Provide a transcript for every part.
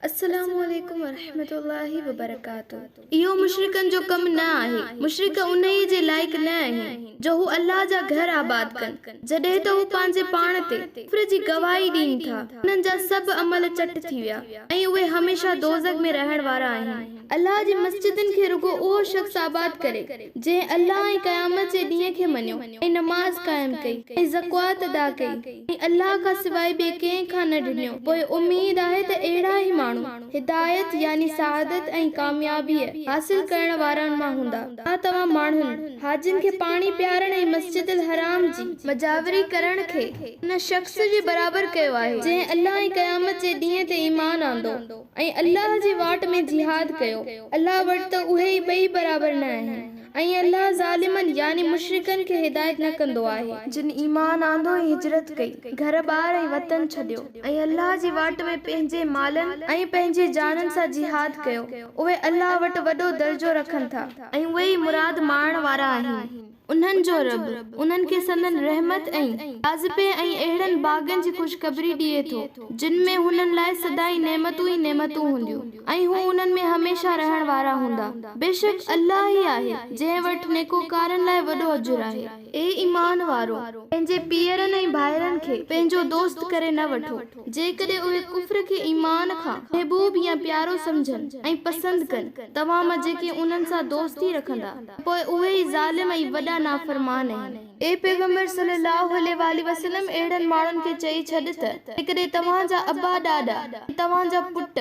السلام عليڪم ورحمة الله وبرڪاته اهو مشرڪن جو ڪم نه آهي، مشرڪ انهيء جي لائق نه آهن جو هو الله جا گهر آباد ڪن، جڏهن ته هو پنهنجي پاڻ تي ڪفر جي گواهي ڏين ٿا، انهن جا سڀ عمل چٽ ٿي ويا، ۽ اهي هميشه دوزخ ۾ رهڻ وارا آهن. الله جي مسجدن کي رڳو اهو شخص آباد ڪري. جنهن الله ۽ قيامت جي ڏينهن کي مڃيو ۽ نماز قائم ڪئي ۽ زڪوات ادا ڪئي ۽ الله کان سواء ٻئي ڪنهن کان نه ڊڄو پوء اميد آهي ته اهڙا ئي ماڻهو هدايت يعني سعادت ۽ ڪاميابيء حاصل ڪرڻ وارن مان هوندا. ڇا توهان ماڻهن، حاجين کي پاڻي پيارڻ ۽ مسجد الحرام جي مجاوري ڪرڻ کي ان شخص جي برابر ڪيو آهي جنهن الله ۽ قيامت جي ڏينهن تي ايمان آندو ۽ الله جي واٽ ۾ جهاد ڪيو، الله وٽ ته اهي ئي ٻئي برابر نه آهن، ۽ الله ظالمن يعني مشرڪن کي هدايت نه ڪندو آهي. جن ايمان آندو ۽ هجرت ڪئي، گهر ٻار ۽ وطن ڇڏيو، ۽ الله جي واٽ ۾ پنهنجي مالن ۽ پنهنجي جانن سان جهاد ڪيو، اهي الله وٽ وڏو درجو رکن ٿا، ۽ اهي ئي مراد ماڻڻ وارا آهن. انهن جو رب انهن کي سندن رحمت ۽ جاذبي ۽ اهڙن باغن جي خوشخبري ڏئي ٿو، جن ۾ هنن لاء سدائين نعمتون ئي نعمتون هونديون ۽ هو انهن ۾ هميشه رهڻ وارا هوندا. بيشڪ الله ئي آهي جنهن وٽ نيڪوڪارن لاء وڏو اجر آهي. اي ايمان وارؤ! پنهنجي پيئرن ۽ ڀائرن کي پنهنجو دوست ڪري نه وٺو، جيڪڏهن اهي ڪفر کي ايمان کان محبوب يا پيارو سمجهن ۽ پسند ڪن، توهان مان جيڪي انهن سان دوستي رکندا، ته پوء اهي ئي ظالم ۽ وڏا نافرمان آهن. اي پيغمبر صلّي اللّٰه عليه واٰله وسلّم اهڙن ماڻهن کي چئي ڇڏ ته جيڪڏهن توهان جا ابا ڏاڏا ۽ توهان جا پٽ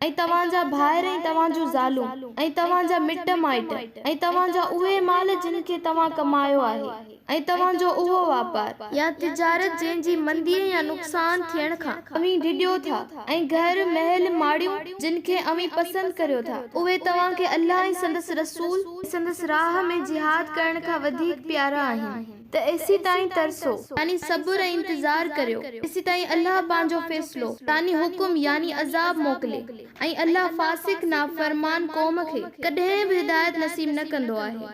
۽ توهان جا ڀائر ۽ توهان جون زالون ۽ توهان جا مٽ مائٽ ۽ توهان جا اهي مال جن کي توهان ڪمايو آهي، ۽ توهان جو اهو واپار يا تجارت جنهن جي منديء يا نقصان ٿيڻ کان اوهين ڊڄو ٿا ۽ گهر، محل، ماڙيون جن کي اوهين پسند ڪريو ٿا اهي توهان کي الله ۽ سندس رسول ۽ سندس راهه ۾ جهاد ڪرڻ کان وڌيڪ پيارا آهن ته ايسيتائين ترسو، يعني صبر ۽ انتظار ڪريو، ايسيتائين الله پنهنجو فيصلو، يعني حڪم، يعني عذاب موڪلي، ۽ الله فاسق، نافرمان، قوم کي ڪڏهن به هدايت نصيب نه ڪندو آهي.